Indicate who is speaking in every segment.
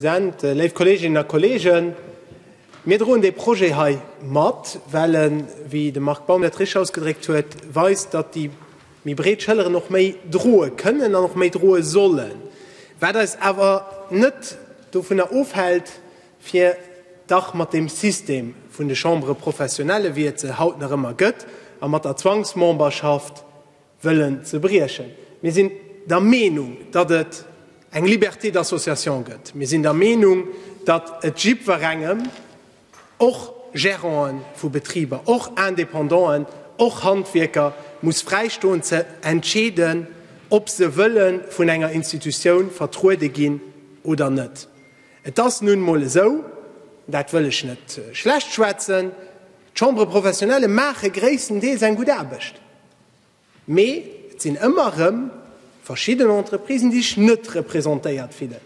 Speaker 1: President, léif Kolleeginnen a Kolleegen, mir droen dee Projet hei mat, well en, wéi de Marc Baum dat richtig ausgedréckt huet, weist, datt déi méi breet Schëlleren och méi droe kënnen an och méi droe sollen, wat eis awer net dovunner ofhält, fir dach mat deem System vun de Chambres professionnelles, wéi et se haut nach ëmmer gëtt, a mat der Zwangsmemberschaft, wëllen ze briechen. Mir sinn der Meenung, datt et eng Liberté d'association gëtt. Mir sinn der Meenung, datt et jiddwerengem, och Gérantë vu Betriber, och Indépendanten, och Handwierker, muss fräistoen ze entscheeden, ob se wëlle vun enger Institutioun vertruede ginn oder net. Et ass nun emol esou, dat wëll ech net schlecht schwätzen, d'Chambres professionnelles maache gréisstendeels eng gutt Aarbecht. Mee et sinn ëmmer erëm verschidden Entreprisen, déi sech net representéiert fillen,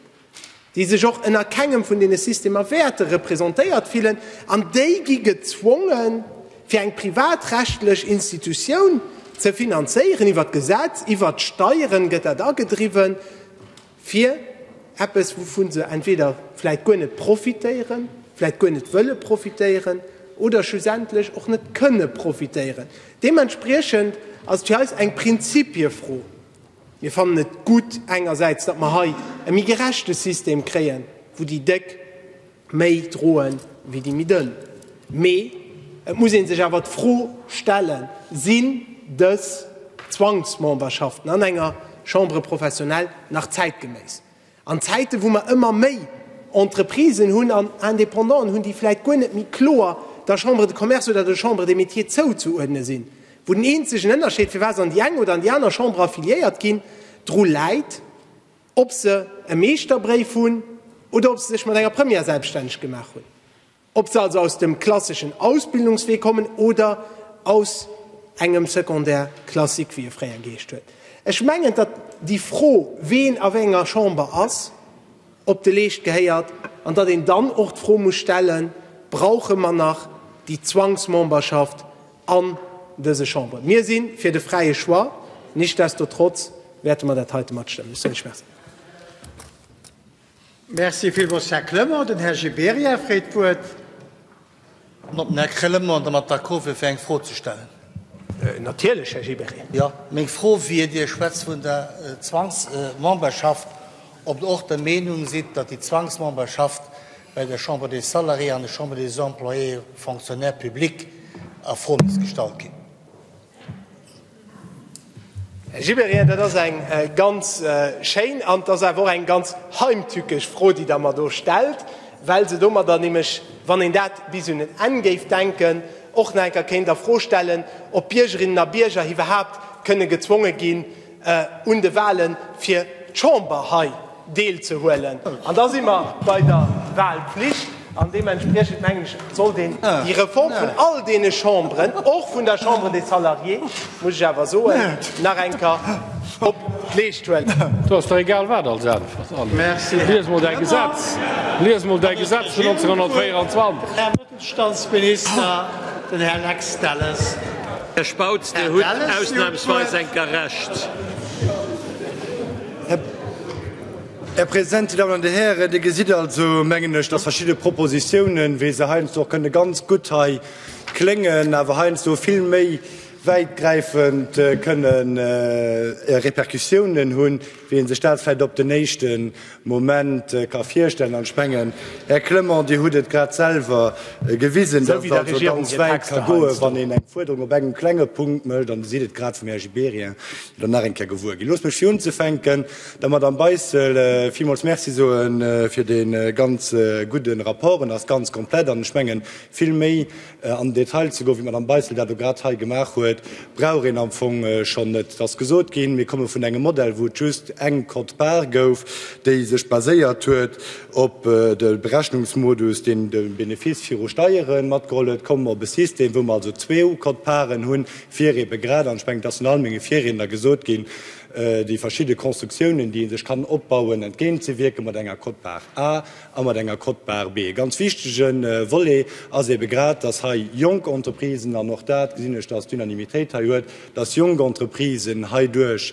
Speaker 1: déi sech och ënner kengem vun deene Systemer wäerte representéiert fillen an déi gi gezwongen, fir eng privatrechtlech Institutioun ze finanzéieren. Iwwer d'Gesetz, iwwer d'Steieren gëtt dat agedriwwen. fir eppes, wouvun se entweder vläit guer net profitéieren, vläit guer net wëlle profitéieren oder schlussendlech och net kënne profitéieren. Deementspriechend ass et fir eis eng Prinzipiefro. Mir fannen et gutt engersäits, datt mer hei e méi gerechte System kréien, wou déi Déck, Méi droen wéi déi méi dënn. Mee et muss ee sech awer d'Fro stellen, Sinn dës Zwangsmemberschaften an enger Chambre professionnelle nach zäitgeméiss? An Zäiten, wou mer ëmmer méi Entreprisen hunn an Indépendanten hunn, déi vläit guer net méi kloer der Chambre de Commerce oder der Chambre des Métiers zouzeuerdne sinn, wou den eenzegen Ënnerscheed, firwat se an déi eng oder an déi aner Chamber affiliéiert ginn, dru läit, Ob se e Meeschterbréif hunn oder ob se sech mat enger Première selbststänneg gemaach hunn, ob se also aus dem klasseschen Ausbildungswee kommen oder aus engem Secondaire classique, wéi e fréier geheescht huet. Ech mengen, datt déi Fro, ween a wéi enger Chamber ass, op de Leescht gehéiert an datt een dann och d'Fro muss stellen, Brauche mer nach déi Zwangsmemberschaft an dëse Chamberen. Mir si fir de fräie Choix, nichtsdestotrotz wäerte mer dat heite matstëmmen. Ech soen lech Merci.
Speaker 2: Merci villmools, Här Clement. Den Här Gibéryen freet d'Wuert.
Speaker 3: An ob den Här Clement domat d'accord wier, fir eng Fro ze stellen?
Speaker 1: Natierlech, Här Gibéryen. Jo, meng Fro
Speaker 3: wier, Dir schwätzt vun der Zwangsmemberschaft. ob Der och der Meenung sidd, datt déi Zwangsmemberschaft bei der Chambre des Salariés an der Chambre des Employés Fonctionnaires Publics a Fro misst gestallt ginn.
Speaker 1: Här Gibéryen, dat ass eng ganz schéin an et ass awer och eng ganz heimtückesch Fro, déi Der mer do stellt, well se domadder nämlech, wann een dat bis un en Enn géif denken, och nach eng Kéier kéint a Fro stellen, ob Biergerinnen a Bierger iwwerhaupt kënne gezwonge ginn, un de Wahle fir d'Chamber hei deelzehuelen. An da si mer bei der Wahlpflicht. An deementspriechend, mengen ech, sollt een déi Reform vun all deene Chamberen, och vun der Chambre des Salariés, muss ech awer soen, nach eng Kéier op d'Leescht huelen. Do ass der egal wat
Speaker 4: als Äntwert. Lies emol däi
Speaker 2: Gesetz,
Speaker 4: lies emol däi Gesetz vun 1924.
Speaker 2: Staatsminister, den Här Lex Delles. Här Spautz,
Speaker 5: Dir hutt ausnahmsweis eng Gerecht.
Speaker 6: Här President, Dir Dammen an Dir Hären, Dir gesitt also, mengen ech, dass verschidde Propositionen, wéi se heiansdo och kënne ganz gutt hei kléngen, awer heiansdo vill méi wäitgräifend kënne Répercussionen hunn, Wéi een sech dat vläit op den éischte Moment ka virstellen, an ech mengen, Här Clement, Dir hutt et grad selwer gewisen, datt et also ganz
Speaker 1: wäit
Speaker 6: ka goen, wann een eng Fuerderung op engem klenge Punkt mécht, an Dir sidd et grad vum Här Gibéryen jo nach eng Kéier gewuer ginn. Loosst mech fir unzefänken der Madame Beissel villmools Merci soe fir dee ganz gudde Rapport. En ass ganz komplett an ech mengen, vill méi An den Detail ze goen, wéi d'Madame Beissel dat elo grad hei gemaach huet, brauch een am Fong schonn net. Et ass gesot ginn, mir komme vun engem Modell, wou et just eng Quote-part gouf, déi sech baséiert huet op de Berechnungsmodus, deen de Benefice viru Steiere matgeholl huet. Elo komme mer op e System, wou mer also zwee Quote-parten hunn, fir ebe grad, an ech mengen, et ass vun all menge Virriedner gesot ginn, déi verschidde Konstruktiounen, déi ee sech kann opbauen, entgéintzewierken mat enger Quote-part A a mat enger Cote barbe. E ganz wichtige Volet ass eebe grad, dass hei jonk Entreprisen, an och dat gesinn ech, dass d'Unanimitéit hei huet, dass jonk Entreprisen heiduerch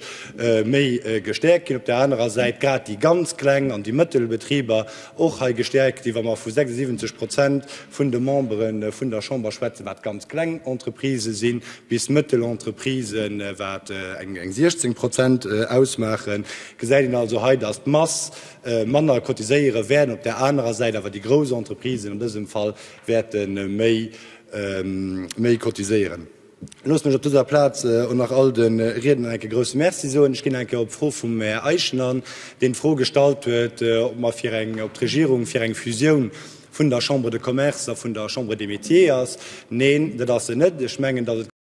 Speaker 6: méi gestärkt ginn, op där anerer Säit grad déi ganz kleng an déi mëttel Betriber och hei gestärkt ginn, wa mer vu 76 Prozent vun de Membere vun der Chamber schwätzen, wat ganz kleng Entreprisë sinn, bis mëttel Entreprisen, wat eng 16 Prozent ausmaachen, gesäit een also hei, dass d'Mass Manner cotiséieren, wäerten op där anerer Säit awer déi grouss Entreprisen an dësem Fall wäerte méi cotiséieren. Loosst mech op dëser Plaz och nach all de Riedner eng Kéier e grousse Merci soen. Ech ginn eng Kéier op d'Fro vum Här Eischen an, deen d'Fro gestallt huet, ob mer fir eng, ob d'Regierung fir eng Fusioun vun der Chambre de Commerce a vun der Chambre des Métiers ass. Neen, dat ass se net. Ech mengen, datt et,